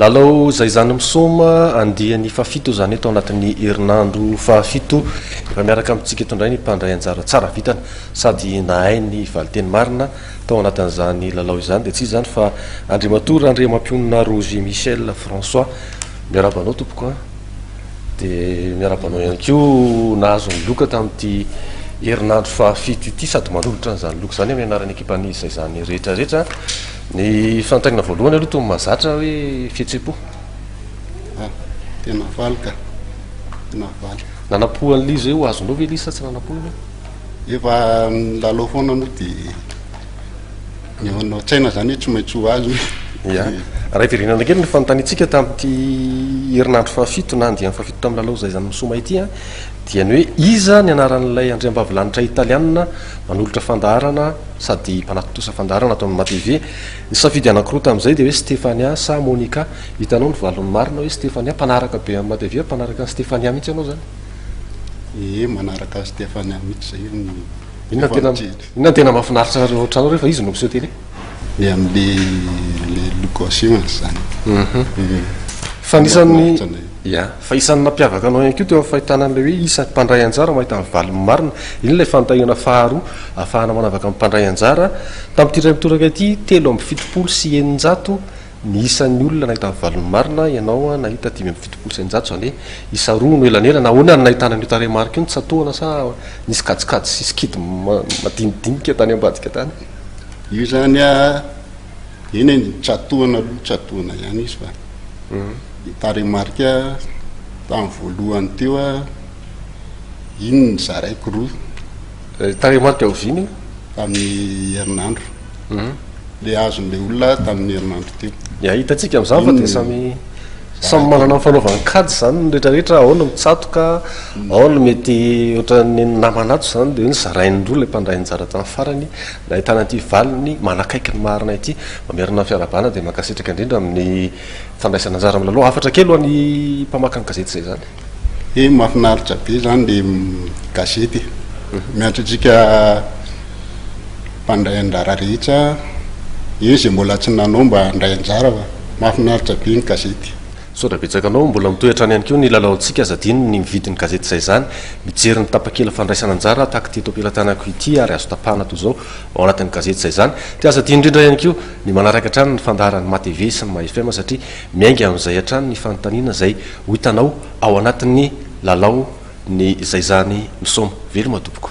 Lalao izay izany misaoma andiany fahafito izany eto anatin'ny herinandro fahafito. Efa miaraka amintsika eto indray ny mpandray anjara tsara vitana sady nahay ny valiteny marina tao anatin'izany lalao izany dia tsy iza izany fa Andriamatoa Randriamampionona Roger Michel François. Miarahaba anao tompoko an! Dia miarahaba anao ihany koa nahazo ny loka tamin'ity herinandro fahafito ity sady manolotra an'izany loka izany amin'ny anaran'ny ekipan'ny izay izany rehetra rehetra. Ny fanontaniana voalohany aloha tony mahazatra hoe fihetsem-po. Ah, tena faly ka. Tena faly. Nanampo an'i Lisa io azonao ve Lisa tsy nanampo ianao? Efa nilalao foana moa dia ny ao anao tsaina zany hoe tsy maintsy ho azy hoe. Ya. Raha hiverenana kely ny fanontaniantsika tamin'ity herinandro fahafito na andiany fahafito tamin'ny lalao izay izany amin'ny Soma ity an. Dia ny hoe iza ny anaran'ilay andriambavilanitra italianina manolotra fandaharana sady mpanatontosa fandaharana ato amin'ny Matv? Nisafidy anankiroa tamin'izay dia hoe Stefania sa Monica? Hitanao ny valiny marina hoe Stefania. Mpanaraka be an'i Matv fa mpanaraka an'i Stefania mihitsy ianao izany. Ee, manaraka an'i Stefania mihitsy izay ny Inona no tena, inona no tena mahafinaritra anareo haotrany hoe fa izy no miseho tele? le amle le look assurance zany mhm. fa nisan'ny ya fa isan'ny nampiavaka anao ihany ko teo amin'ny fahitana an'la hoe isan'ny mpandray anjara mahita ny valiny marina iny ilay fanotaniana faharoa afahana manavaka ny mpandray anjara tamin'ity ray mitoraka ity telo amby fitopolo sy eninjato Ny isan'ny olona nahita ny valiny marina, ianao an, nahita dimy amby fitopolo sy eninjato, izany hoe isa roa no elanelana. Ahoana no nahitana an'io tarehimarika io? Nitsatohana sa nisy kajikajy sy sikidy madinidinika tany ambadika tany? Io izany an, eny e, nitsatohana aloha, nitsatohana ihany izy fa ny tarehimarika tamin'ny voalohany teo an, iny nizaraiko roa. Tarehimarika oviana io? Tamin'ny herinandro. le azon'le olona tamin'ny herinandro teo. Ya hitantsika amin'izany fa dia samy samy manana ny fanaovany kajy izany ny rehetrarehetra ao ny mitsatoka mm. ao ny mety ohatran'ny namanato izany dia hoe ny zarain'ny roa ilay mpandray anjara tamin'ny farany nahitana ity valiny manakaiky ny marina ity mamerina fiarabana dia mankasitraka indrindra amin'ny fandraisana anjara milalao hafatra kely ho an'ny mpamaky ny gazety izay izany He mafinaritra be zany le gazety e! Miantso antsika mpandray anjara rehetra eo ze mbola tsy nanao mba handray anjara fa mafinaritra be ny gazety. Misaotra betsaka anao, mbola mitohy hatrany ihany koa ny lalaontsika, aza adino ny mividy ny gazety izay izany, mijery ny tapakila fandraisana anjara tahaka ity eto am-pelatanako ity ary azo tapahana toy izao ao anatin'ny gazety izay izany, dia aza adino indrindra ihany koa ny manaraka hatrany ny fandaharan'ny maha TV sy ny maha FM satria Miainga amin'izay hatrany ny fanontaniana izay ho hitanao ao anatin'ny lalao ny izay izany misaoma. Veloma tompoko.